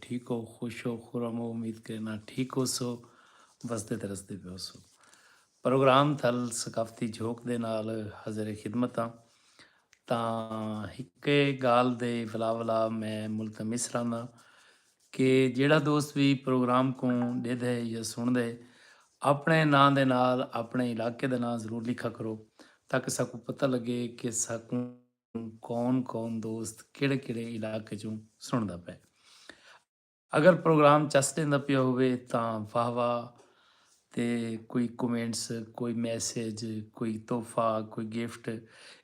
ٹھیک ہو خوش ہو خرم ہو امید کرینا ٹھیک ہوسو وسدے تے رسدے پے ہوسو پروگرام تھل ثقافتی جھوک دے نال حاضر خدمت ہاں تاں ہکے گال دے ولا ولا میں ملتمس رہنا کہ جیڑا دوست بھی پروگرام کو ڈے دے یا سن دے اپنے نام دے نال اپنے علاقے دے نام ضرور لکھا کرو تاکہ ساکو پتہ لگے کہ ساکو کون کون دوست کیڑے کیڑے علاقے چوں سنڑدا پئے اگر پروگرام چس ڈیندا پیا ہوئے تاں واہ واہ تے کوئی کومنٹس کوئی میسج کوئی تحفہ کوئی گفٹ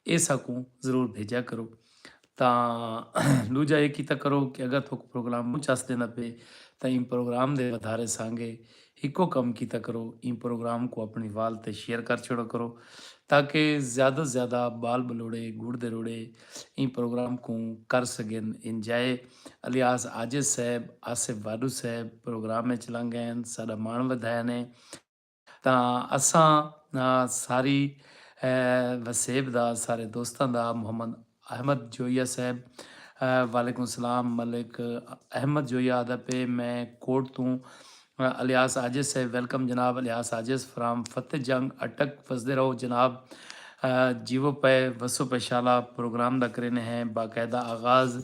اے ساکوں ضرور بھیجا کرو تاں لوجا اے کیتا کرو کہ اگر تھوک پروگرام چس ڈیندا پئے تاں ان پروگرام دے ودھارے سانگے ہکو کم کیتا کرو ایں پروگرام کوں اپنڑیں وال تے شیئر کر چھوڑا کرو تاکہ زیادہ زیادہ بال بلوڑے گڑ دے روڑے ایں پروگرام کوں کر سگن انجائے الیاس عاجز صاحب آصف واڈو صاحب پروگرام اچ لنگ گئے ہن ساڈا مان ودھایا نے تاں اساں ساری وسیب دا سارے دوستاں دا محمد احمد جویہ صاحب وعلیکم السلام ملک احمد جویہ آدھا پے میں کوٹ توں الیاس عاجز صاحب ویلکم جناب الیاس عاجز فرام فتح جنگ اٹک وسدے رہو جناب جیو پے وسو پے شالا پروگرام دا کرینے ہیں باقاعدہ آغاز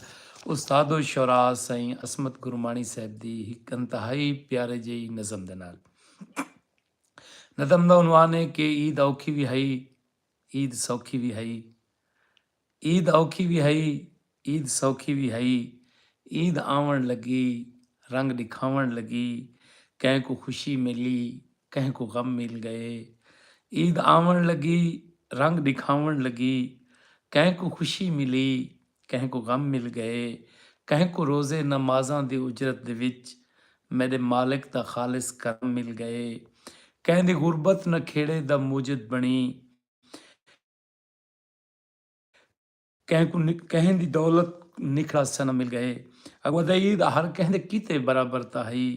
استاد و شعراء سائیں عصمت گرمانی صاحب دی ہک انتہائی پیارے جئی نظم دے نال نظم دا عنوان ہے کہ عید اوکھی وی ہئی عید سوکھی وی ہئی عید اوکھی وی ہئی عید سوکھی وی ہئی عید آوݨ لڳی رنگ ݙکھاوݨ لڳی کہیں کوں خوشی ملی کہیں کوں غم مل ڳئے عید آوݨ لڳی رنگ ݙکھاوݨ لڳی کہیں کوں خوشی ملی کہیں کوں غم مل گئے کہیں کوں روزے نمازاں دی اجرت دے وچ میڈے مالک دا خالص کرم مل گئے کہیں دی غربت نکھیڑے دا موجد بنڑی کہیں کوں کہیں دی دولت نکھڑا سنم مل گئے اگو دئی دا ہر کہیں دے کیتے برابر تاں ہئی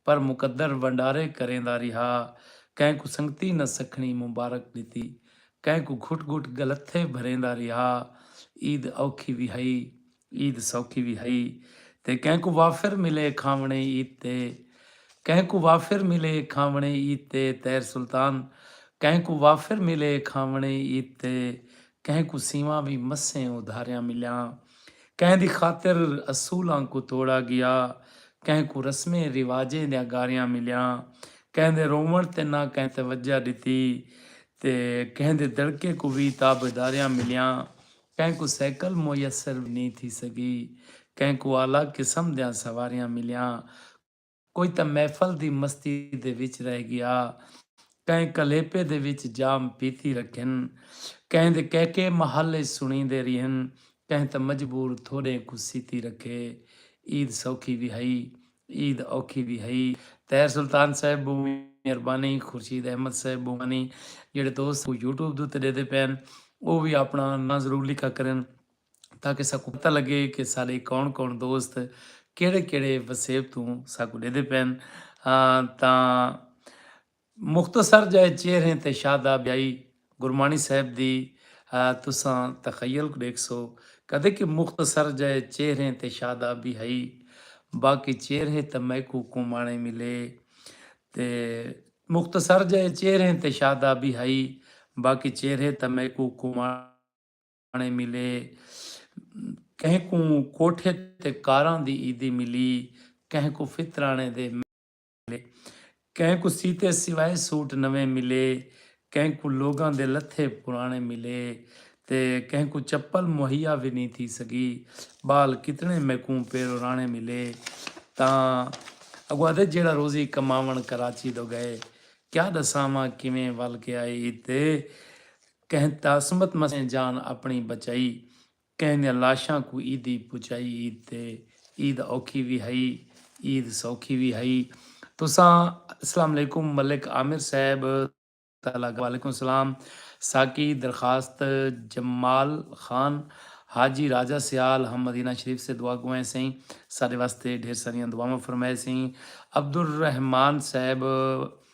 پر مقدر ونڈارے کریندا ریہا کہیں کوں سنگتی نہ سکھنی مبارک ڈتی۔ کہیں کوں گھٹ گھٹ گلتھے بھریندا ریہا عید اوکھی وی ہئی عید سوکھی وی ہئی تے کہیں کوں وافر ملے کھاوݨے عید تے کہیں کوں وافر ملے کھاوݨے عید تے طاہر سلطان کہیں کوں وافر ملے کھاوݨے عید تے کہیں کوں سیواں وی مسیں ادھاریاں ملیاں۔ کہیں دی خاطر اصولاں کوں توڑا گیا، کہیں کوں رسمیں رواجیں دیاں گاریاں ملیاں، کہیں دے رووݨ تے نہ کہیں توجہ ݙتی تے کہیں دے دڑکے کوں وی تابعداریاں ملیاں، کہیں کوں سائیکل میسر وی نی تھی سڳی، کہیں کوں اعلی قسم دیاں سواریاں ملیاں، کوئی تاں محفل دی مستی دے وچ رہ ڳیا کہیں کلیپے دے وچ جام پیتی رکھن کہیں دے کہکے محل اچ سݨیندے ریہن کہیں تاں مجبور تھوڑیں کوں سیتی رکھے عید سوکھی وی ہئی عید اوکھی وی ہئی طاہر سلطان صاحب بہوں مہربانی خورشید احمد صاحب بہوں مہربانی جیڑھے دوست یوٹیوب دے اتے ݙیندے پئے ہن او وی آپݨا ناں ضرور لکھا کرن۔ تاکہ ساکوں پتہ لگے کہ ساڈے کون کون دوست کیڑھے کیڑھے وسیب توں ساکوں ڈیدے پین تاں مختصر جئے چہریں تے شاہدہ بیائی گرمانی صاحب دی تساں تخیل کوں ڈیکھسو کدے کہ مختصر جئے چہریں تے شاہدہ بی ہئی باقی چہریں تاں میکوں کومانے ملے تے مختصر جئے چہریں تے شاہدہ بی ہئی باقی چہریں تاں میکوں کومانے کھاݨے ملے کہیں کوں کوٹھے تے کاراں دی عیدی ملی کہیں کوں فطرانے دے ملے کہیں کوں سیتے سوائے سوٹ نویں ملے کہیں کوں لوگاں دے لتھے پرانے ملے تے کہیں کوں چپل مہیا وی نی تھی سگی بال کتنے میکوں پیرو رانے ملے تاں اگو ادے جیڑا روزی کماون کراچی دو گئے کیا دساواں کیویں ول کے آئے عید تے کہیں تاثمت مسیں جان اپنڑی بچائی کہیں دیاں لاشاں کوں عیدی پچائی عید تے عید اوکھی وی ہئی عید سوکھی وی ہئی تساں اسلام علیکم ملک عامر صاحب تالا وعلیکم سلام ساکی درخواست جمال خان حاجی راجہ سیال ہم مدینہ شریف سے دعا گوئیں سئیں ساڈے واسطے ڈھیر ساریاں دعاواں فرمائے سئیں عبدالرحمان صاحب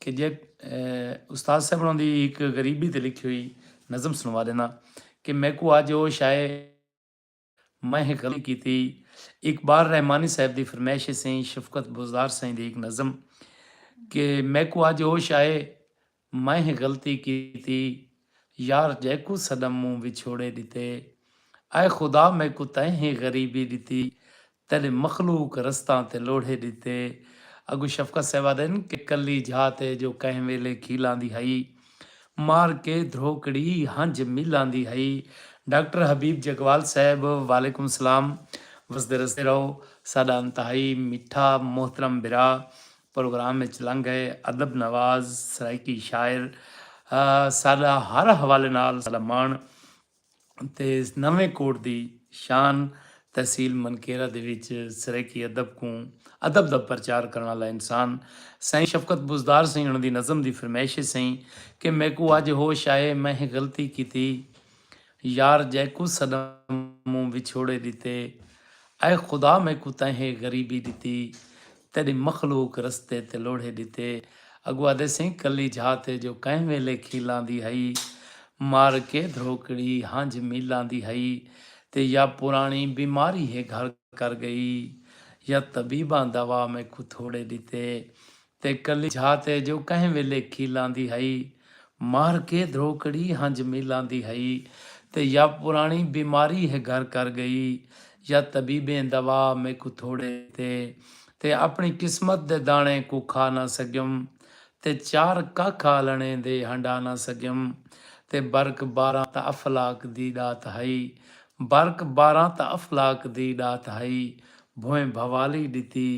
کہ جے استاد صاحب انہاں دی ہک غریبی تے لکھی ہوئی نظم سنوا ݙینداں کہ میکوں اڄ ہوش آئے میں ہک غلطی کیتی اقبال رحمانی صاحب دی فرمائش ہے سئیں شفقت بوزدار سئیں دی ہک نظم کہ میکوں اڄ ہوش آئے میں ہک غلطی کیتی۔ یار جیکوں صنم موں وچھوڑے ݙتے اے خدا میکوں تیں ہیں غریبی ݙتی تیݙے مخلوق رستاں تے لوڑھے ݙتے اڳوں شفقت صاحب آہدن کہ کلی جھات اے جو کہیں ویلے کھیلاندی ہئی مار کے دھروکڑی ہنج میلاندی ہئی ڈاکٹر حبیب جگوال صاحب وعلیکم السلام وسدے رسدے رہو ساݙا انتہائی مٹھا محترم بھرا پروگرام اچ لنگ گئے ادب نواز سرائیکی شاعر ساڈا ہر حوالے نال ساڈا ماݨ تے نویں کوٹ دی شان تحصیل منکیرہ دے وچ سرائیکی ادب کوں ادب دا پرچار کرݨ آلا انسان سائیں شفقت بزدار سئیں انہاں دی نظم دی فرمائش اے سئیں کہ میکوں اج ہوش آئے میں غلطی کیتی یار جیکوں سݙاں موں وچھوڑے ݙتے اے خدا میکوں تیں ہے غریبی ݙتی تیݙی مخلوق رستے تے لوڑھے ݙتے۔ اڳوں آہدے سئیں کلی جھا تے جو کہیں ویلے کھیلاں دی ہئی۔ مر کے دھروکڑی ہنجھ میلاں دی ہئی۔ تے یا پراݨی بیماری ہے گھر کر ڳئی۔ یا طبیباں دوا میکوں تھوڑے ݙتے۔ تے کلی جھا تے جو کہیں ویلے کھیلاں دی ہئی۔ مار کے دھروکڑی ہنج میلاں دی ہئی تے یا پراݨی بیماری ہے گھر کر ڳئی یا طبیبیں دوا میکوں تھوڑے ݙتے تے اپݨی قسمت دے داݨیں کوں کھا نہ سڳیم تے چار ککھ آلݨیں دے ہنڈا نہ سڳیم تے برک باراں تاں افلاک دی ݙات ہئی برک باراں تاں افلاک دی ݙات ہئی بھوئیں بھوالی ݙتی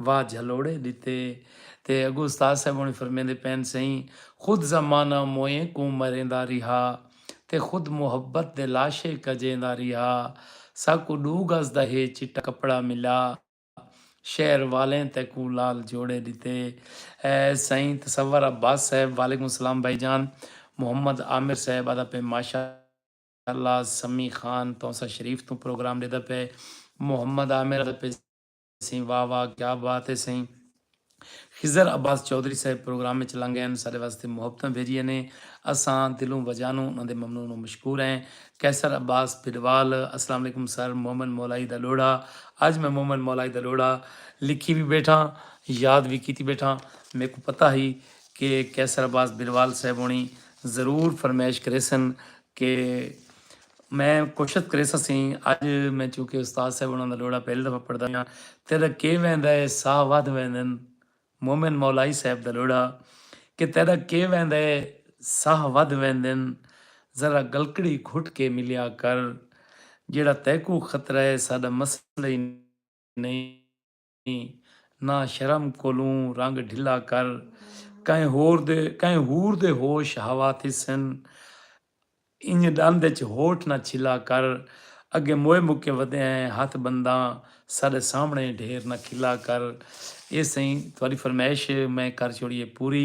واہ جھلوڑے ڈتے تے اگو استاد صاحب ہونے فرمیندے پین سئیں خود زمانہ موئیں کوں مریندا ریہا تے خود محبت دے لاشے کجیندا ریہا ساکوں ڈو گز دا ہے چٹا کپڑا ملا شہر والیں تیکوں لال جوڑے ڈتے اے سئیں تصور عباس صاحب وعلیکم السلام بھائی جان محمد عامر صاحب آدا پئے ماشاء اللہ سمی خان تونسہ شریف توں پروگرام ڈیدا پئے محمد عامر آدا پئے سئیں واہ واہ کیا بات ہے سئیں خضر عباس چوہدری صاحب پروگرام وچ لنگ ہن ساڈے واسطے محبتاں بھیجیاں نے اساں دلوں وجانوں انہاں دے ممنون و مشکور ہیں قیصر عباس بھڈوال اسلام علیکم سر مومن مولائی دا لوڑھا اج میں مومن مولائی دا لوڑھا لکھی وی بیٹھاں یاد وی کیتی بیٹھاں میکوں پتہ ہئی کہ قیصر عباس بھڈوال صاحب ہونی ضرور فرمائش کریسن کہ میں کوشت کریساں سئیں اج میں چونکہ استاد صاحب انہاں دا ڈوہڑا پہلی دفعہ پڑھدا پیاں تیڈا کے ویندا اے ساہ ودھ ویندن مومن مولائی صاحب دا ڈوہڑا کہ تیڈا کے ویندا اے ساہ ودھ ویندن ذرا گلکڑی گھٹ کے ملیا کر جیڑھا تیکوں خطرہ اے ساڈا مسئلہ ای نئیں ناں شرم کولوں رنگ ڈھلا کر کہیں ہور دے کہیں حور دے ہوش ہوا تھیسن انج ڈند اچ ہوٹھ نہ چھلا کر اگے موئے مکے ودے ہیں ہتھ بنداں ساڈے سامنے ڈھیر نہ کھلا کر اے سئیں تہاڈی فرمائش میں کر چھوڑی ہے پوری۔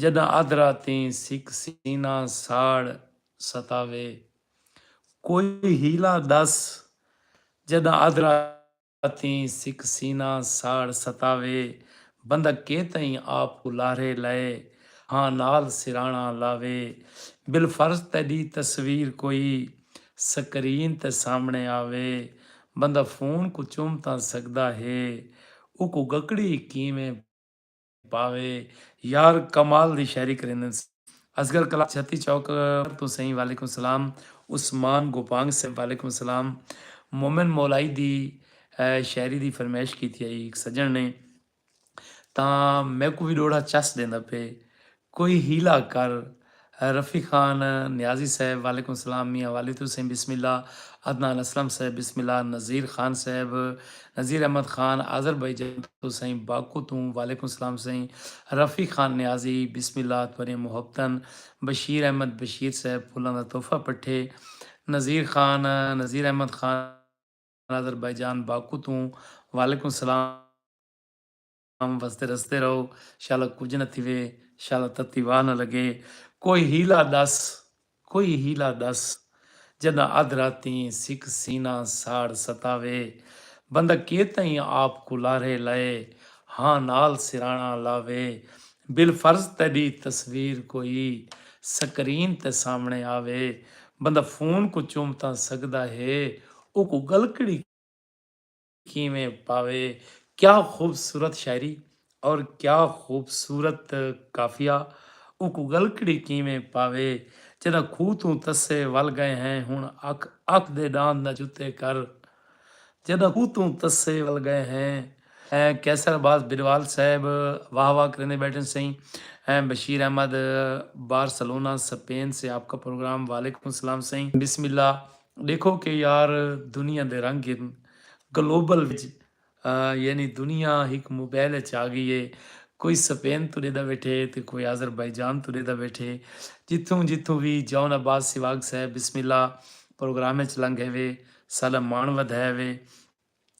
جݙاں ادھ راتیں سک سینہ ساڑ ستاوے کوئی حیلہ ݙس جݙاں ادھ راتیں سک سینہ ساڑ ستاوے بندہ کے تئیں آپ کوں لاہرے لئے ہاں نال سراݨا لاوے بالفرض تیݙی تصویر کوئی سکرین تے سامݨے آوے بندہ فون کوں چم تاں سڳدا ہے اوکوں ڳکڑی کیویں پاوے یار کمال دی شاعری کریندن سے۔ اصغر کلال چھتی چوک توں سئیں وعلیکم سلام عثمان گوپانگ سئیں وعلیکم السلام مومن مولائی دی شاعری دی فرمیش کیتی ہئی ہک سجن نے تاں میکوں وی ڈوڑھا چس ڈیندا پئے کوئی حیلہ کر رفیق خان نیازی صاحب وعلیکم السلام میاں والد حسین بسم اللہ عدنان اسلم صاحب بسم اللہ نذیر خان صاحب نذیر احمد خان آذربائیجان توں سئیں باکو توں وعلیکم السلام سئیں رفیق خان نیازی بسم اللہ تہاݙیاں محبتاں بشیر احمد بشیر صاحب پھلاں دا تحفہ پٹھے نذیر خان نذیر احمد خان آذربائیجان باکو توں وعلیکم السلام کم وسدے رسدے رہو شالا کجھ نہ تھیوے شالا تتی واہ نہ لگے کوئی ہیلا دس کوئی ہیلا دس جداں ادھ راتیں سک سینہ ساڑ ستاوے بندہ کے تئیں آپ کوں لارھے لائے ہاں نال سراݨا لاوے بالفرض تیڈی تصویر کوئی سکرین تے سامݨے آوے بندہ فون کوں چوم تاں سڳدا ہے اوکوں ڳلکڑی کیویں پاوے کیا خوبصورت شاعری اور کیا خوبصورت قافیہ اوکوں ڳلکڑی کیویں پاوے جݙاں کھوہ توں تسے ول ڳئے ہیں ہݨ اکھ اکھ دے ݙاند نہ جتے کر جݙاں کھوہ توں تسے ول ڳئے ہیں۔ قیصر عباس بھروال صاحب واہ واہ کریندے ٻیٹھن سئیں بشیر احمد بارسلونا سپین سے آپ کا پروگرام وعلیکم السلام سئیں بسم اللہ۔ ڈیکھو کہ یار دنیا دے رنگ ہن گلوبل وچ یعنی دنیا ہک موبائل اچ آگئی ہے کوئی سپین توں ڈیدا بیٹھے تے کوئی آذربائیجان توں ڈیدا بیٹھے جتھوں جتھوں وی جاؤ نا باز سواگ صاحب بسم اللہ پروگرام اچ لنگھے وے ساڈا ماݨ ودھائے وے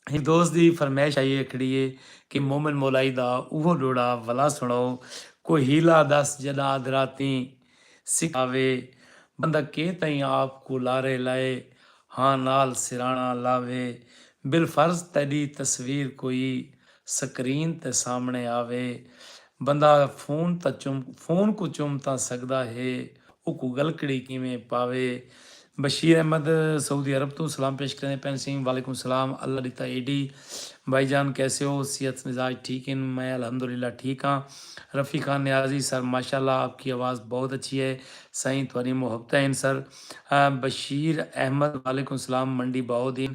ہک دوست دی فرمائش آئی ہکڑی اے کہ مومن مولائی دا اوہو ڈوڑا ولا سنڑاؤ کوئی حیلہ دس جڈاں ادراتیں سکھ آوے بندہ کے تئیں آپ کوں لارے لائے ہاں نال سرانا لاوے بالفرض تیڈی تصویر کوئی سکرین تے سامنڑے آوے۔ بندہ فون تاں چم فون کوں چم تاں سگدا ہے اوکوں گلکڑی کیویں پاوے۔ بشیر احمد سعودی عرب توں سلام پیش کریندے پئن سیں وعلیکم السلام اللہ ڈتا اے ڈی بھائی جان کیسے ہو صحت مزاج ٹھیک ہن میں الحمدللہ ٹھیک ہاں رفیع خان نیازی سر ماشاءاللہ آپ کی آواز بہت اچھی ہے سائیں تھوڑی محبتیں ہن سر بشیر احمد وعلیکم السلام منڈی باہو دین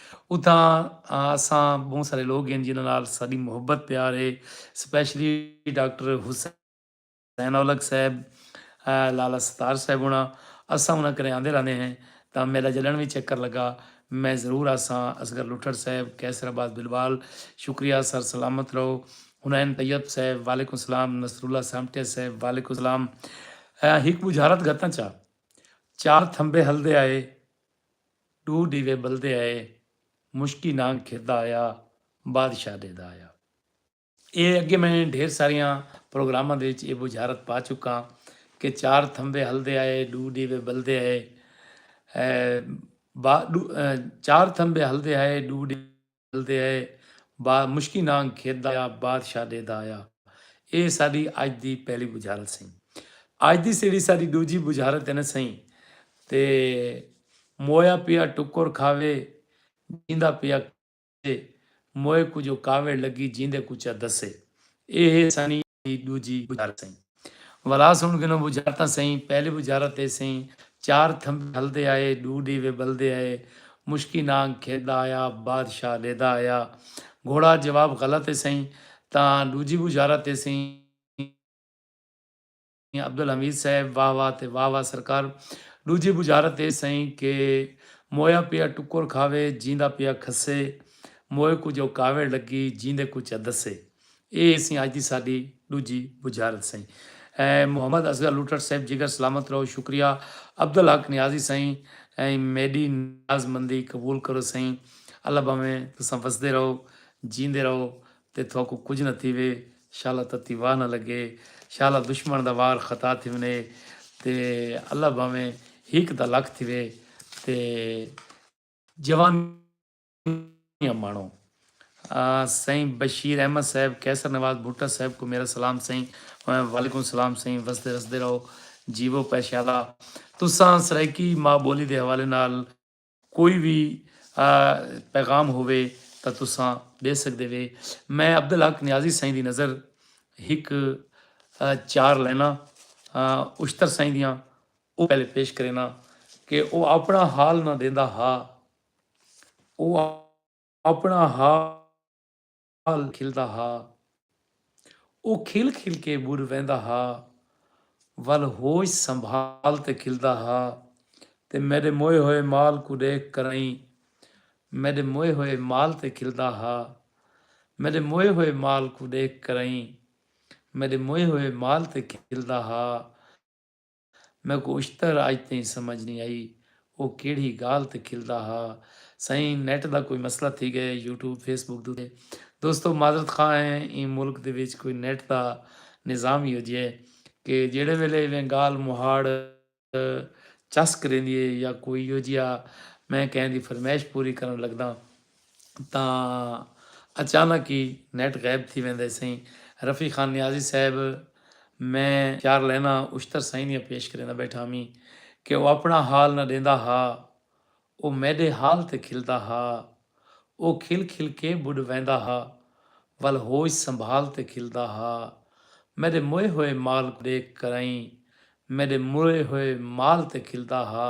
اتھاں اساں بہوں سارے لوگ ہن جنہاں نال ساڈی محبت پیار ہے سپیشلی ڈاکٹر حسین اولکھ صاحب لالا ستار صاحب ہونا اساں انہاں کرے آندے رہندے ہیں تاں میڈا جڈن وی چکر لگا میں ضرور آساں اصغر لٹھڑ صاحب قیصر عباس بلوال شکریہ سر سلامت رہو حنین طیب صاحب وعلیکم السلام نصر اللہ سامٹیا صاحب وعلیکم السلام ہک بجھارت گھتاں چا چار تھمبے ہلدے آئے ݙو ݙیوے ٻلدے آئے مشکی نانگ کھردا آیا بادشاہ ݙیہدا آیا۔ اے اڳے میں ڈھیر ساریاں پروگراماں دے وچ اے بجھارت پا چکاں کہ چار تھمبے ہلدے آئے ݙو ݙیوے ٻلدے آئے ݙو چار تھمبے ہلدے آئے ݙو تے اے با مشکی نانگ کھیت دا یا بادشاہ ڈے دا یا اے ساڈی اج دی پہلی بجھارت سئیں اج دی سیڑھی ساڈی ڈوجھی بجھارت اے نہ سئیں تے مویا پیا ٹکر کھاوے جیندا پیا کسے موئے کجو کاوڑ لگی جیندے کچا دسے اے ہے سانی دی ڈوجھی بجارت سئیں۔ ولا سن گھنو بجارتاں سئیں، پہلی بجارت اے سئیں، چار تھمبے ہلدے آئے، ڈو ڈیوے بلدے آئے، مشکی نانگ کھیدا آیا، بادشاہ لیدا آیا۔ گھوڑا جواب غلط اے سئیں، تاں ڈوجھی بجارت اے سئیں۔ عبدالحمید صاحب واہ واہ تے واہ واہ سرکار۔ ڈوجھی بجارت اے سئیں کہ مویا پیا ٹکر کھاوے، جیندا پیا کھسے، موئے کوں جو کاوڑ لگی، جیندے کوں چا دسے۔ اے ہیسیں اج دی ساڈی ڈوجھی بجھارت سئیں محمد اصغر لوٹھڑ صیب جگر سلامت رہو شکریہ عبدالحق نیازی سئیں میڈی نیاز مندی قبول کرو سئیں اللہ بھاویں تساں وسدے رہو جیندے رہو تے تھواکوں کجھ نہ تھیوے شالا تتی واہ نہ لگے شالا دشمن دا وار خطا تھیونے تے اللہ بھاویں ہیک دا لکھ تھیوے تے جوانی سوہنیاں مانو۔ سئیں بشیر احمد صاحب قیصر نواز بھٹہ صاحب کوں میرا سلام سئیں۔ وعلیکم سلام سئیں وسدے رسدے رہو جیوو پیشالا تساں سرائیکی ماء بولی دے حوالے نال کوئی وی پیغام ہووے تاں تساں ڈے سگدے وے میں عبدالحق نیازی سائیں دی نظر ہک چار لائناں اشتر سائیں دیاں او پہلے پیش کرینا کہ او اپنا حال نہ دیندا ہا۔ او آپݨا حال کھلدا ہا۔ او کھل کھل کے ٻر ویندا ہا ول ہوش سنبھال تے کھلدا ہا تے میݙے موئے ہوئے مال کوں ݙیکھ کرائیں میݙے موئے ہوئے مال تے کھلدا ہا میݙے موئے ہوئے مال کوں ݙیکھ کرائیں میݙے موئے ہوئے مال تے کھلدا ہا۔ میکوں اشتر اج تئیں سمجھ نی آئی او کیڑھی گالھ تے کھلدا ہا۔ سئیں نیٹ دا کوئی مسئلہ تھی گئے یوٹیوب فیس بک دو تے دوستو معذرت خواہ ہیں ایں ملک دے وچ کوئی نیٹ دا نظام ہی اجھے کہ جیڑھے ویلے ایویں گالھ مہاڑ چس کریندی ہے یا کوئی یوجیا میں کہیں دی فرمیش پوری کرن لگداں۔ تاں اچانک ای نیٹ غائب تھی ویندے سئیں رفیع خان نیازی صاحب میں خیار لیناں اشتر سئیں دیاں پیش کریندا بیٹھا ہمیں کہ او اپنڑاں حال نہ ڈیندا ہا او میڈے حال تے کھلدا ہا او کھل کھل کے بڈ ویندا ہا ول ہوش سنبھال تے کھلدا ہا میڈے موئے ہوئے مال کوں ڈیکھ کرائیں میڈے موئے ہوئے مال تے کھلدا ہا۔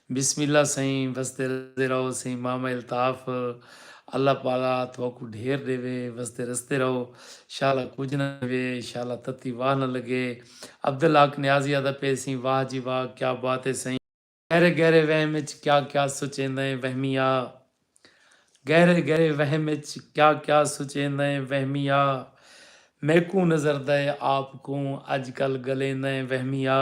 بسم اللہ سئیں وسدے رسدے رہو سئیں ماما الطاف اللہ پالا تھوکوں ڈھیر ڈیوے وسدے رسدے رہو شالا کجھ نہ تھیوے شالا تتی واہ نہ لگے عبدالحق نیازی آدا پئے سئیں واہ جی واہ کیا بات اے سئیں گہرے گہرے وہم اچ کیا کیا سوچیندئیں وہمی آ گہرے گہرے وہم اچ کیا کیا سوچیندئیں وہمی آ میکوں نظردئے آپ کوں اج کل گلیندئیں وہمی آ۔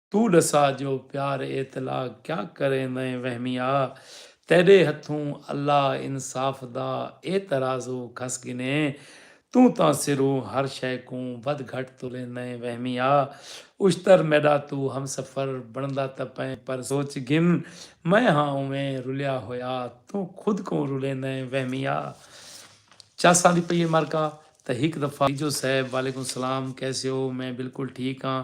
توں ڈسا جو پیار ایتلا کیا کریں میں وہمیا تیڈے ہتھوں اللہ انصاف دا اے ترازو کھس گھنے توں تاں سروں ہر شے کوں ودھ گھٹ تلیں میں وہمیا اشتر میڈا تو ہمسفر بندا تاں پئیں پر سوچ گھن میں ہاں اوویں رلیا ہویا توں خود کوں رلیں میں وہمیا چس آندی پئی اے مرکا تاں ہک دفعہ۔ تیجو صاحب وعلیکم سلام کیسے ہو میں بالکل ٹھیک ہاں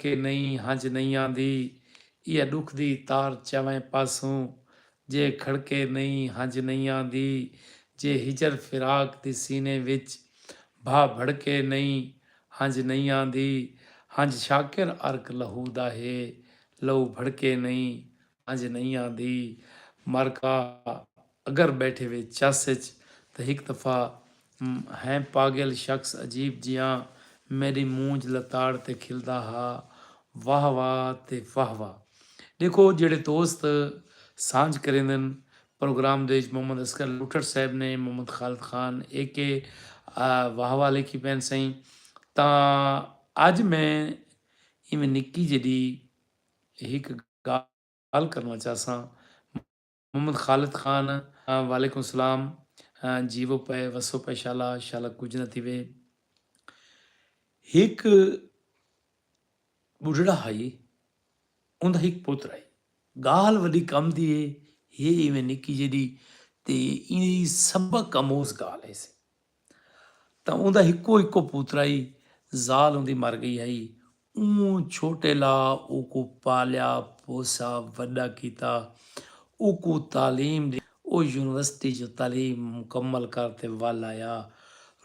کے نئیں ہنج نئیں آندی ایہ ڈکھ دی تار چویں پاسوں جے کھڑکے نئیں ہنج نئیں آندی جے ہجر فراق دی سینے وچ بھا بھڑکے نئیں ہنج نئیں آندی ہنج شاکر عرق لہو دا ہے لہو بھڑکے نئیں سمجھ نئیں آندی مر کا اگر بیٹھے وے چس اچ تاں ہک دفعہ ہیں پاگل شخص عجیب جیاں میڈی مونجھ لتاڑ تے کھلدا ہا واہ واہ تے واہ واہ ڈیکھو جیڑھے دوست سانجھ کریندن پروگرام دے وچ محمد اصغر لوٹھڑ صاحب نے محمد خالد خان اے کے واہ واہ لکھی پین سئیں تاں اج میں ایویں نکی جیڈی ہک گالھ کرنڑاں چاہساں۔ محمد خالد خان وعلیکم السلام جیوو پئے وسو پئے شالا شالا کجھ نہ تھیوے ہک بڈھڑا ہئی اوندا ہک پتر ہئی گالھ وڈی کم دی ہے یہ ایویں نکی جیڈی تے ایندی سبق اموز گالھ ہیسی تاں اوندا ہکو ہکو پوترا ہئی ذال اوندی مر گئی ہئی اوں چھوٹے لا اوکوں پالیا پوسا وڈا کیتا اوکوں تعلیم ڈی او یونیورسٹی جو تعلیم مکمل کر تے ول آیا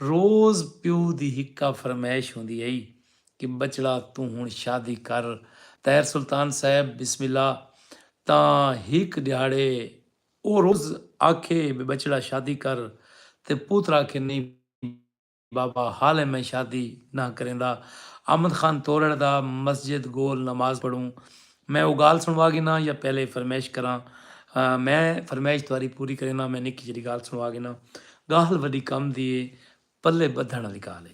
روز پیو دی ہکا فرمائش ہوندی ہئی کہ بچڑا توں ہن شادی کر طاہر سلطان صاحب بسم اللہ تاں ہک ڈیہاڑے او روز آکھے بے بچڑا شادی کر تے پوتر آکھے نی بابا حالے میں شادی نہ کریندا احمد خان تورڑ دا مسجد گول نماز پڑھوں میں او گال سنوا گھناں یا پہلے فرمیش کراں میں فرمیش تواری پوری کریناں میں نکی جیڑی گال سنوا گھناں گال وڈی کم دی اے پلے بدھن آلی گال اے۔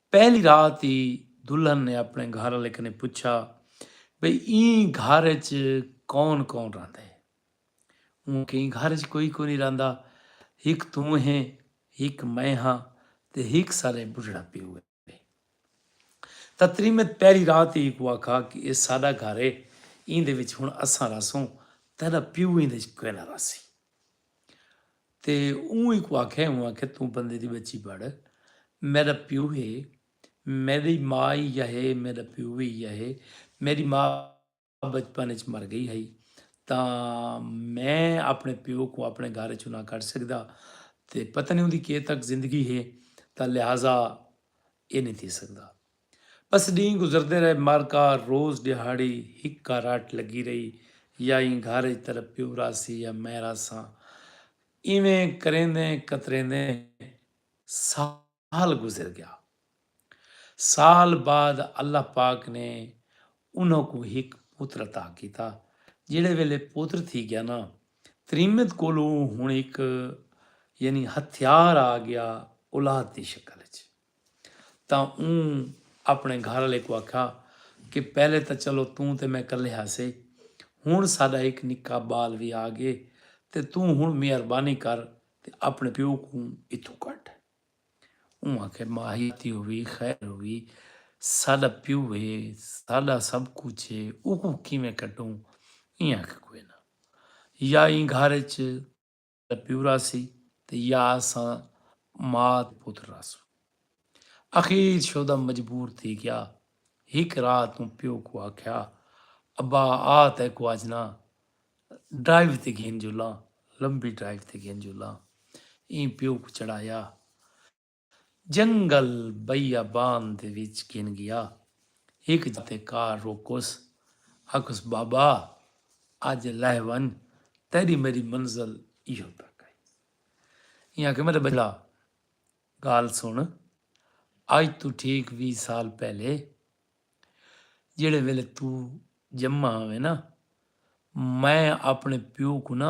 پہلی رات ای دلہن نے اپنے گھر آلے کنیں پچھا بھئی ایں گھر اچ کون کون رہندے۔ اوں آکھیا ایں گھر اچ کوئی کونی رہندا ہک توں ہیں ہک میں ہاں تے ہک ساڈے بڈھڑا پیو ہے۔ تتریمت پہلی رات ای اکوں آکھا کہ اے ساڈا گھر ہے ایندے وچ ہن اساں رہسوں تیڈا پیو ایندے وچ کوئنہ رہسی۔ تے اوں اینکوں آکھیا اوں آکھیا توں بندے دی بچی بڑ میڈا پیو ہے میڈی ما ای یا ہے میڈا پیو وی ای یا ہے میڈی ما بچپن اچ مر گئی ہئی تاں میں اپنے پیو کوں اپنے گھر اچوں نہ کڈ سکدا تے پتہ نی اوندی کے تک زندگی ہے تاں لہذا اے نی تھی سکدا۔ بس ڈینہہ گزردے رہے مارکا روز ڈیہاڑی ہک کاراٹ لگی رہی یا ایں گھر اچ تیرا پیو راہسی یا میں راہساں ایویں کریندیں کتریندیں سال گزر گیا سال بعد اللہ پاک نے انہاں کوں ہک پوتر عطا کیتا جیڑے ویلے پوتر تھی گیا نا تریمت کولوں ہن ہک یعنی ہتھیار آ گیا اولاد دی شکل وچ تاں اوں اپݨے گھر آلے کوں آکھیا کہ پہلے تاں چلو توں تے میں کلھے ہاسے ہݨ ساݙا ہک نکا ٻال وی آ ڳئے تے توں ہݨ مہربانی کر تے اپݨے پیو کوں اتھوں کڈھ۔ اوں آکھیا ماہی تی ہووی خیر ہووی ساݙا پیو ہے ساݙا سب کجھ ہے اوکوں کیویں کڈھوں ایں آکھیا کوئناں یا ایں گھر اچ دا پیو راہسی تے یا اساں ماء دے پتر راہسوں۔ اخیر شودہ مجبور تھی گیا۔ ہک رات اوں پیو کوں آکھیا ابا آ تیکوں اج نہ ڈرائیو تے گھن جلاں، لمبی ڈرائیو تے گھن جلاں۔ ایں پیو کوں چڑھایا۔ جنگل بیابان دے وچ گھن ڳیا۔ ہک جاہ تے کار روکوس۔ آکھوس بابا اج لہہ ونڄ تیݙی میݙی منزل ایہو تک ہئی۔ ایں آکھے میݙے ٻچڑا ڳالھ سݨ اج توں ٹھیک ویہہ سال پہلے جیڑھے ویلے توں ڄما ہاویں نا میں آپݨے پیو کوں نا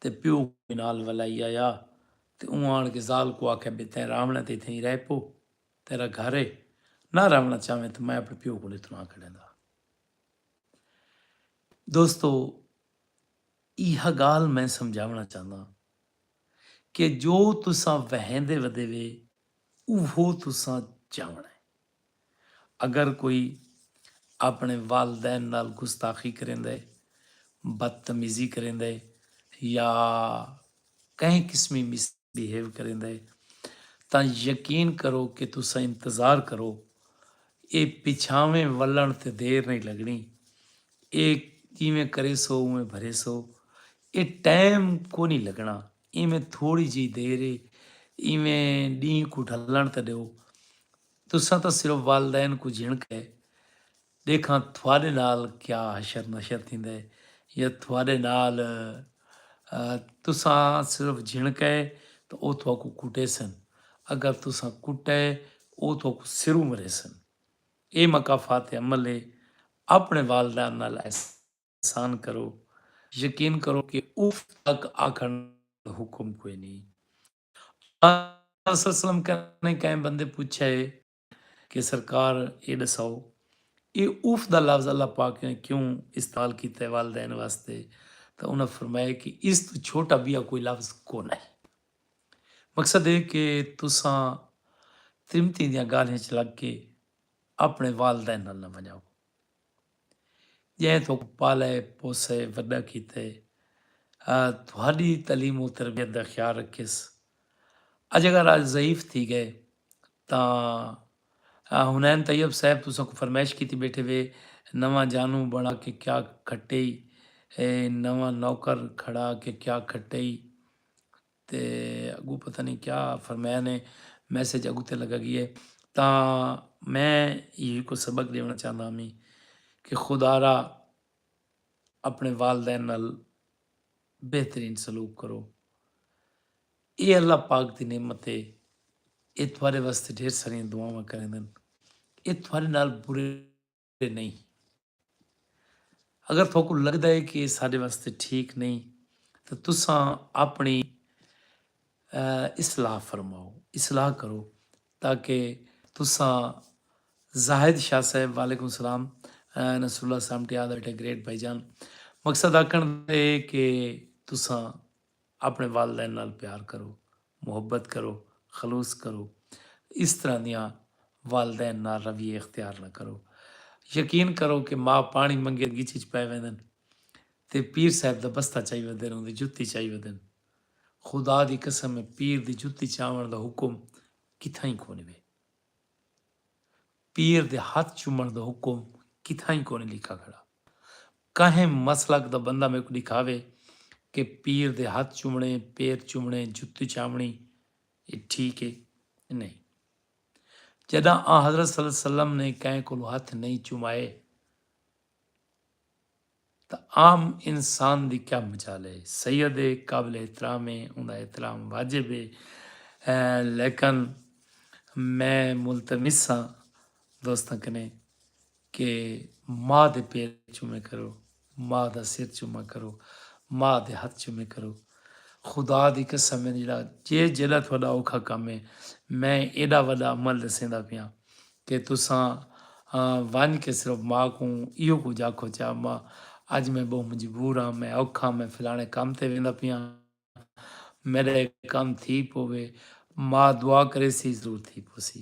تے پیو کوں نال ولائی آیا تے اوں آن کے ذال کوں آکھیا بھئی تیں راونڑیں تے اتھیں ای رہ پو تیرا گھر ہے نہ راونڑاں چاویں تاں میں اپنڑے پیو کوں اتھوں نہ کڈھیندا۔ دوستو ایہا گالھ میں سمجھاونڑاں چاہنداں کہ جو تساں وہیندے ودے وے اوہو تساں جاونڑیں۔ اگر کوئی اپݨے والدین نال گستاخی کریندے، بدتمیزی کریندے یا کہیں قسمی مس بہیو کریندے تاں یقین کرو کہ تساں انتظار کرو ایہ پچھاویں ولݨ تے دیر نئیں لڳݨی ایہ جیویں کریسو اونویں بھریسو ایہ ٹائم کونہیں لڳݨا۔ ایویں تھوڑی جئی دیر اے ایویں ڈینہہ کوں ڈھلنڑ تے ڈیو تساں تاں صرف والدین کوں جھنڑکا اے ڈیکھاں تھوڈے نال کیا حشر نشر تھیندا اے یا تھوڈے نال تساں صرف جھنڑکا اے تاں او تھاکوں کٹیسن اگر تساں کٹا اے او تھاکوں سروں مریسن اے مکافات عمل اے اپنڑے والدین نال ایسے احسان کرو یقین کرو کہ اف تک آکھن دا حکم کوئی نی آقا صلی اللہ علیہ وسلم کنے کہیں بندے پچھیا ہے کہ سرکار اے ڈساؤ اے اف دا لفظ اللہ پاک نے کیوں استعمال کیتا ہے والدین واسطے تاں انہاں فرمایا کہ اس توں چھوٹا بیا کوئی لفظ کونہ ہے مقصد اے کہ تساں ترمتی دیاں گالھیں اچ لگ کے اپنے والدین نال نہ ونجاؤ۔ جئیں تہاکوں پالئے پوسئے وݙا کیتے تہاݙی تعلیم و تربیت دا خیال رکھیس اڄ اگر آج ضعیف تھی ڳئے تاں حنین طیب صاحب تساں کوں فرمائش کیتی بیٹھے وے نواں جانوں بݨا کے کیا کھٹئی نواں نوکر کھڑا کے کیا کھٹئی تے اگوں پتہ نئیں کیا فرمایا نے میسج اگتے لگا گی ہے تاں میں یہ کو سبق دیونا چاہنا ہمی کہ خدارا اپنے والدین نال بہترین سلوک کرو اے اللہ پاک دی نعمت ہے اے تھوارے واسطے ڈھیر ساری دعاواں کریں دن اے تھوارے نال برے تے نئیں۔ اگر تہاکوں لگدا ہے کہ ایہ ساڈے واسطے ٹھیک نئیں تاں تساں اپݨی اصلاح فرماؤ، اصلاح کرو، تاکہ تساں زاہد شاہ صاحب وعلیکم السلام نصر اللہ سامٹیال بیٹھے گریٹ بھائی جان مقصد آکھݨ دا اے کہ تساں اپݨے والدین نال پیار کرو، محبت کرو، خلوص کرو۔ اس طرح دیاں والدین نال رویے اختیار نہ کرو۔ یقین کرو کہ ماء پاݨی منگے گچ اچ پئے ویندن تے پیر صاحب دا بستہ چائی ودن اوندی جتی چائی ودن۔ خدا دی قسم ہے پیر دی جتی چاوݨ دا حکم کتھائیں کونی وے۔ پیر دے ہتھ چومݨ دا حکم کتھائیں کونی لکھا کھڑا۔ کہیں مسلک دا بندہ میکوں ݙکھاوے کہ پیر دے ہتھ چومݨے، پیر چومݨے، جتی چاوݨی اے ٹھیک اے؟ نئیں۔ جݙاں آنحضرت صلی اللہ علیہ وسلم نے کہیں کولوں ہتھ نئیں چومائے تاں عام انسان دی کیا مجال اے؟ سید اے، قابل احترام اے، اوندا احترام واجب اے، لیکن میں ملتمس ہاں دوستاں کنیں کہ ماء دے پیر چومے کرو ماء دا سر چوما کرو ماء دے ہتھ چومے کرو خدا دی قسم ہے جیڑا جے جیڑا تہاڈا اوکھا کم ہے میں ایڈا وڈا عمل ڈسیندا پیاں کہ تساں ونج کے صرف ماء کوں ایہو کجھ آکھو چا ماء اج میں بہوں مجبور ہاں میں اوکھا میں فلانے کم تے ویندا پیاں۔ میݙا اے کم تھی پووے ماء دعا کریسی ضرور تھی پوسی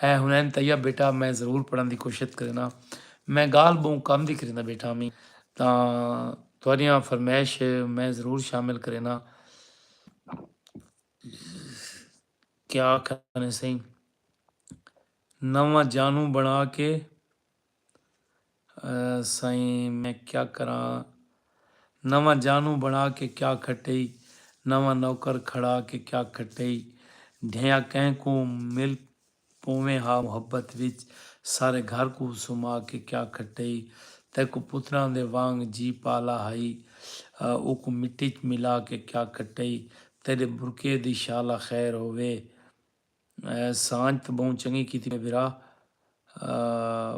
اے حنین طیب بیٹا میں ضرور پڑھݨ دی کوشش کرینا میں ڳالھ ٻہوں کم دی کریندا بیٹھا ہمی تاں تہاݙیاں فرمائش میں ضرور شامل کرینا کیا آکھاں سئیں نواں جانوں بݨا کے سائیں میں کیا کراں نواں جانوں بنا کے کیا کھٹئی نواں نوکر کھڑا کے کیا کھٹئی ڈھیا کہیں کوں مل پوویں ہا محبت وچ سارے گھر کوں سما کے کیا کھٹئی تیکوں پتراں دے وانگ جی پالا ہئی اوکوں مٹی ءچ ملا کے کیا کھٹئی تیڈے برقعے دی شالا خیر ہووے۔ سانجھ تاں بہوں چنگی کیتی میڈے بھرا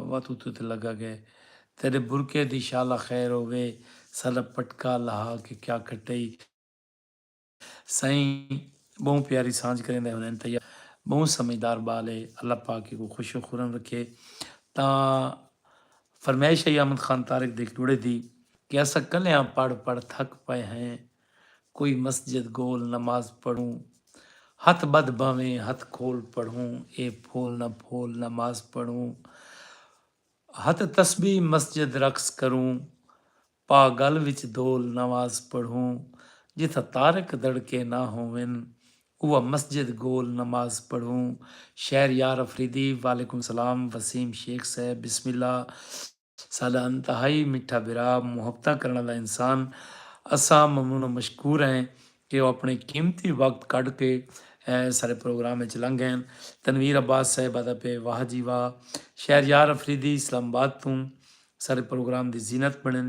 وا توں تے لگا گئے تیڈے برقعے دی شالا خیر ہووے ساڈا پٹکا لہا کے کیا کھٹئی سائیں بہوں پیاری سانجھ کریں دے حنین طیب بہوں سمجھدار بال ہے اللہ پاک ایکوں خوش و خورم رکھے تاں فرمائش ہئی احمد خان طارق دے جوڑے دی کہ اساں کلیاں پڑھ پڑھ تھک پئے ہیں کوئی مسجد گول نماز پڑھوں ہتھ بدھ بھاویں ہتھ کھول پڑھوں اے پھول نہ پھول نماز پڑھوں ہتھ تسبیح مسجد رقص کروں پا گل وچ دھول نماز پڑھوں جتھاں طارق دڑکے نہ ہوون اوہ مسجد گول نماز پڑھوں شہریار آفریدی وعلیکم سلام وسیم شیخ صاحب بسم اللہ۔ ساڈا انتہائی میٹھا بھرا، محبتاں کرنڑ آلا انسان، اساں ممنون و مشکور ہیں کہ او اپنڑے قیمتی وقت کڈھ کے ساڈے پروگرام اچ لنگھ گئے ہن۔ تنویر عباس صاحب آدا پئے واہ جی واہ شہریار افریدی اسلام آباد توں ساڈے پروگرام دی زینت بنڑن۔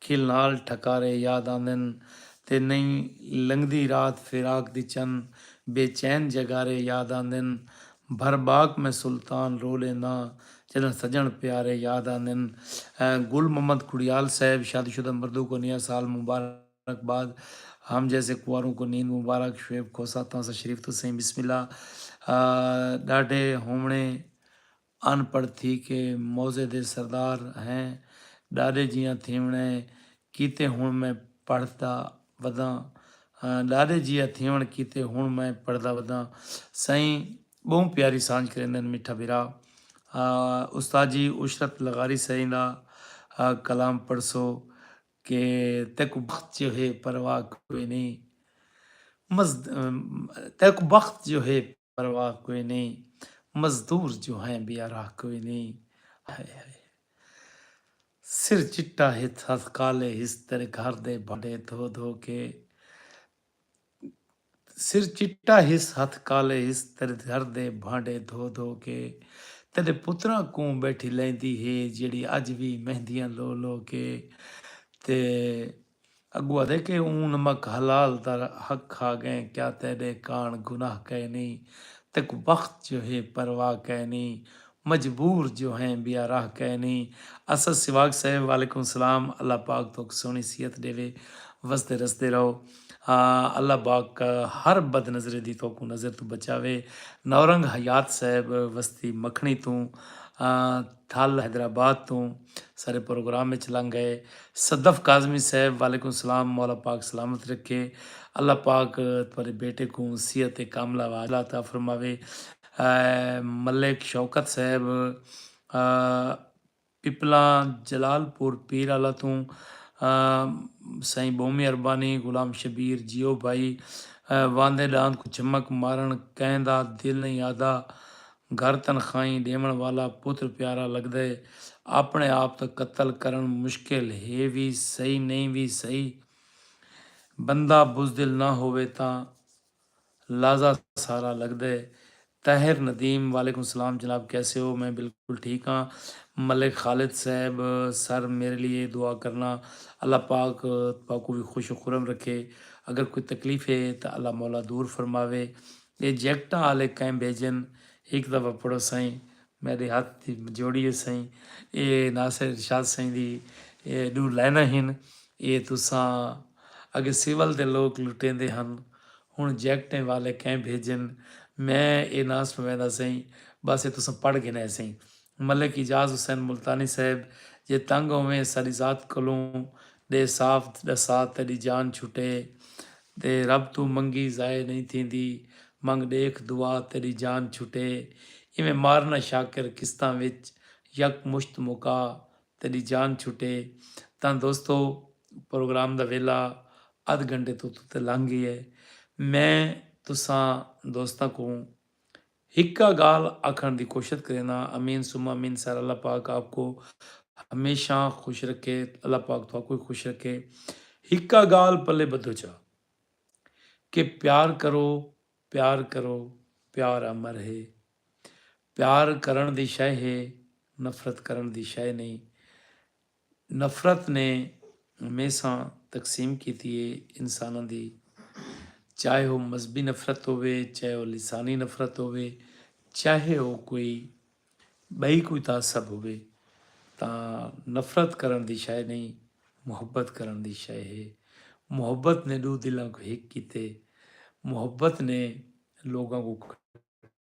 کھل نال ٹھکارے یاد آندن تے نئیں لنگھدی رات فراق دی چن بے چین جگارے یاد آندن بھر باک میں سلطان رو لینداں جݙاں سڄݨ پیارے یاد آندن گل محمد کھڑیال صاحب شادی شدہ مردوں کو نیا سال مبارک باد ہم جیسے کنواروں کو نیند مبارک شعیب کھوسہ تاں سا شریف تسیں بسم اللہ ݙاڈھے ہووݨے ان پڑھ تھی کے موضع دے سردار ہیں ڈاڈے جیاں تھیونڑ اے کیتے ہن میں پڑھ دا وداں ڈاڈے جیاں تھیونڑ کیتے ہن میں پڑھ دا وداں سائیں بہوں پیاری سانجھ کریندن میٹھا بھرا استاد جی عشرت لغاری سائیں دا کلام پڑھسو کے تیکوں بخت جو ہے پرواہ کوئی نہیں تیکوں بخت جو ہے۔ پرواہ کوئی نئیں مزدور جو ہیں بے آراہ کوئی نئیں ہائے ہائے سر چٹا ہتھ ہتھ کالے ہس تیرے گھر دے بھانڈے دھو دھو کے سر چٹا ہس ہتھ کالے ہس تیرے گھر دے بھانڈے دھو دھو کے تیرے پتراں کوں بیٹھی لیندی ہے جیڑی اج وی مہندیاں لو لو کے تے اگو آدھے کہ اوں نمک حلال دا حق کھا گئیں کیا تیڈے کاݨ گناہ کائنی تیکوں بخت جو ہے پرواہ کائنی مجبور جو ہیں بیا راہ کائنی اسد سواگ صاحب وعلیکم السلام اللہ پاک توک سوہنی صحت ڈیوے وسدے رسدے رہو اللہ باک ہر بد نظرے دی توکوں نظر توں بچاوے نورنگ حیات صاحب وستی مکھنی توں تھل حیدرآباد توں سارے پروگرام اچ لنگ گئے صدف کاظمی صاحب وعلیکم السلام مولا پاک سلامت رکھے اللہ پاک تہاڈے بیٹے کوں صحت کاملہ وعاجلہ عطا فرماوے ملک شوکت صاحب پپلاں جلال پور پیر آلا توں سائیں بومی اربانی غلام شبیر جیو بھائی واندے ڈاند کوں چمک مارن کہیں دا دل نہیں آدا گھر تنخواہیں ݙیوݨ والا پتر پیارا لڳدے، آپݨے آپ توں قتل کرݨ مشکل ہے وی سہی نئیں وی سہی، بندہ بزدل نہ ہووے تاں لازا سارا لڳدے۔ طاہر ندیم وعلیکم سلام جناب کیسے ہو میں بالکل ٹھیک ہاں ملک خالد صاحب سر میرے لیے دعا کرنا اللہ پاک تہاکوں وی خوش و خرم رکھے اگر کوئی تکلیف ہے تاں اللہ مولا دور فرماوے اے جیکٹاں آلے کئیں بھیجن ہک دفعہ پڑھو سئیں میڈے ہتھ دی جوڑی ہے سئیں اے ناصر ارشاد سئیں دی ڈو لائناں ہن اے تساں اگے سول دے لوک لٹیندے ہن ہن جیکٹیں والے کئیں بھیجن میں اے ناں سنویندا سئیں بس اے تساں پڑھ گھنے سئیں ملک اعجاز حسین ملتانی صاحب جے تنگ ہوویں ساڈی ذات کولوں ڈے صاف ڈسا تیڈی جان چھٹے تے رب توں منگی ضائع نئیں تھیندی منگ ڈیکھ دعا تیڈی جان چھٹے ایویں مارنا شاکر قسطاں وچ یک مشت مکا تیڈی جان چھٹے تاں دوستو پروگرام دا ویلا ادھ گھنٹے توں اتتے لنگھ گئے میں تساں دوستاں کوں ہکا گالھ آکھنڑ دی کوشت کرینا امین ثم امین سر اللہ پاک آپکو ہمیشاں خوش رکھے اللہ پاک تھاکو وی خوش رکھے ہکا گالھ پلے بدھو چا کہ پیار کرو پیار کرو پیار امر ہے پیار کرنڑ دی شے ہے نفرت کرنڑ دی شے نئیں نفرت نے میساں تقسیم کیتی اے انساناں دی چاہے او مذہبی نفرت ہووے چاہے او لسانی نفرت ہووے چاہے او کوئی بئی کوئی تعصب ہووے تاں نفرت کرن دی شے نئیں محبت کرن دی شے ہے محبت نے ڈو دلاں کو ہک کیتے محبت نے لوگاں کو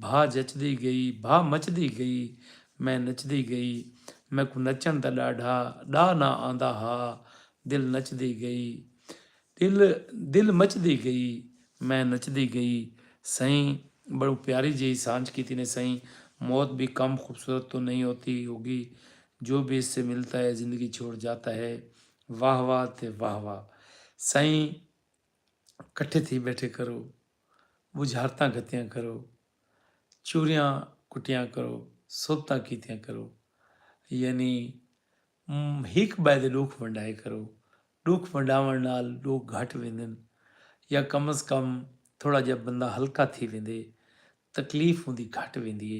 بھا جچدی گئی بھا مچدی گئی میں نچدی گئی میکوں نچݨ دا ݙاڈھا ݙا نہ آندا ہا دل نچدی گئی دل دل مچدی گئی میں نچدی گئی سئیں بڑوں پیاری جیہی سانجھ کیتی نے سئیں موت بھی کم خوبصورت تو نہیں ہوتی ہوگی جو بھی اس سے ملتا ہے زندگی چھوڑ جاتا ہے واہ واہ تے واہ واہ سئیں کٹھے تھی بیٹھے کرو بجھارتاں گھتیاں کرو چوریاں کٹیاں کرو سوبتاں کیتیاں کرو یعنی ہک بائے دے ڈوکھ ونڈائے کرو ڈوکھ ونڈاون نال لوگ گھٹ ویندن یا کم از کم تھوڑا جا بندہ ہلکا تھی ویندے تکلیف ہوندی گھٹ ویندی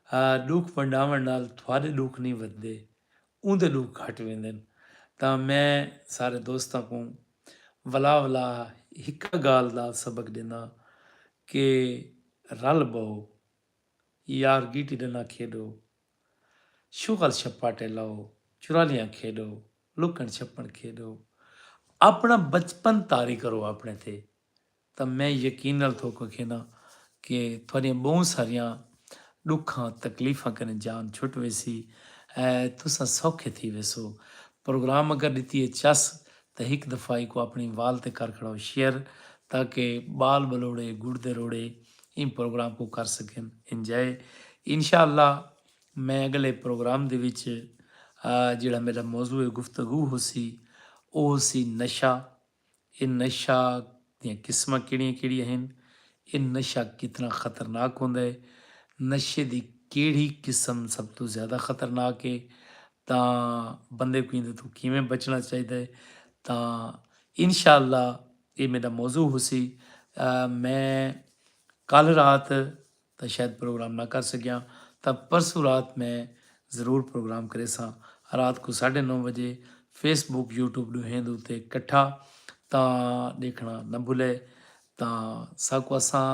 ہے ڈوکھ ونڈاون نال تھوڑے ڈوکھ نہیں ودے اوندے ڈوکھ گھٹ ویندن تاں میں سارے دوستاں کو ولا ولا ہکا گالھ دا سبق ڈینداں کہ رل بہو یار گیٹی ڈنڈا کھیڈو شغل شپاٹے لو چرالیاں کھیڈو لکن چھپن کھیڈو اپنا بچپن طاری کرو اپنے تے تاں میں یقین نال تہاکوں اکھینداں کہ تہاݙیاں ٻہوں ساریاں ݙکھاں تکلیفاں کنیں جان چھٹ ویسی اے تساں سوکھے تھی ویسو۔ پروگرام اگر ݙتی اے چس تاں ہک دفعہ ایکوں آپݨی وال تے کر کھڑاؤ شیئر تاکہ ٻال ٻلوڑے گڑدے روڑے ایں پروگرام کوں کر سکن انجائے۔ انشاء اللہ میں اڳلے پروگرام دے وچ جیڑھا میݙا موضوع گفتگو ہوسی او ہوسی نشہ اے نشہ دیاں قسماں کیڑھیاں کیڑھیاں ہن؟ اے نشہ کتنا خطرناک ہوندا ہے؟ نشے دی کیڑھی قسم سب توں زیادہ خطرناک ہے؟ تاں بندے کوں ایندے توں کیویں بچنا چاہیدا ہے؟ تاں انشاءاللہ اے میڈا موضوع ہوسی۔ میں کل رات تاں شاید پروگرام نہ کر سگیاں تاں پرسوں رات میں ضرور پروگرام کریساں رات کوں ساڈھے نو وجے فیس بک یوٹیوب ڈوہیں دے اتے کٹھا تاں ڈیکھنا نہ بھلے تاں ساکوں اساں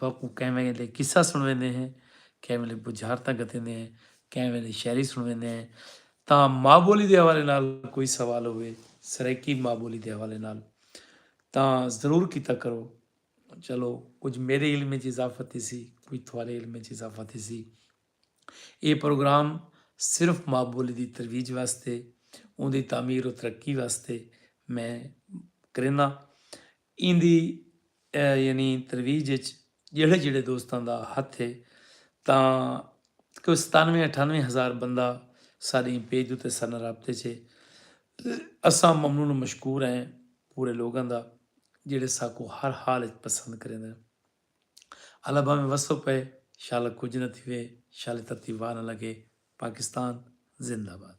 تہاکوں کہیں ویلے قصہ سنویندے ہیں کہیں ویلے بجھارتاں گھتیندے ہیں کہیں ویلے شاعری سنویندے ہیں تاں ماں بولی دے حوالے نال کوئی سوال ہوئے سرائیکی ماں بولی دے حوالے نال تاں ضرور کیتا کرو چلو کجھ میرے علم وچ اضافہ تھیسی کجھ تھوارے علم وچ اضافہ تھیسی اے پروگرام صرف ماں بولی دی ترویج واسطے اون دی تعمیر و ترقی واسطے میں کرینا این دی یعنی ترویج وچ جڑے جڑے دوستاں دا ہتھ ہے تاں کوئی ستانوے اٹھانوے ہزار بندہ ساڈی پیج اتے سن رابطے چ تے اساں ممنون و مشکور ہیں پورے لوگاں دا جیڑھے ساکوں ہر حال اچ پسند کریندن۔ اللہ بھاویں وسو پئے شالا کجھ نہ تھیوے شالے تتی واہ نہ لگے پاکستان زندہ آباد۔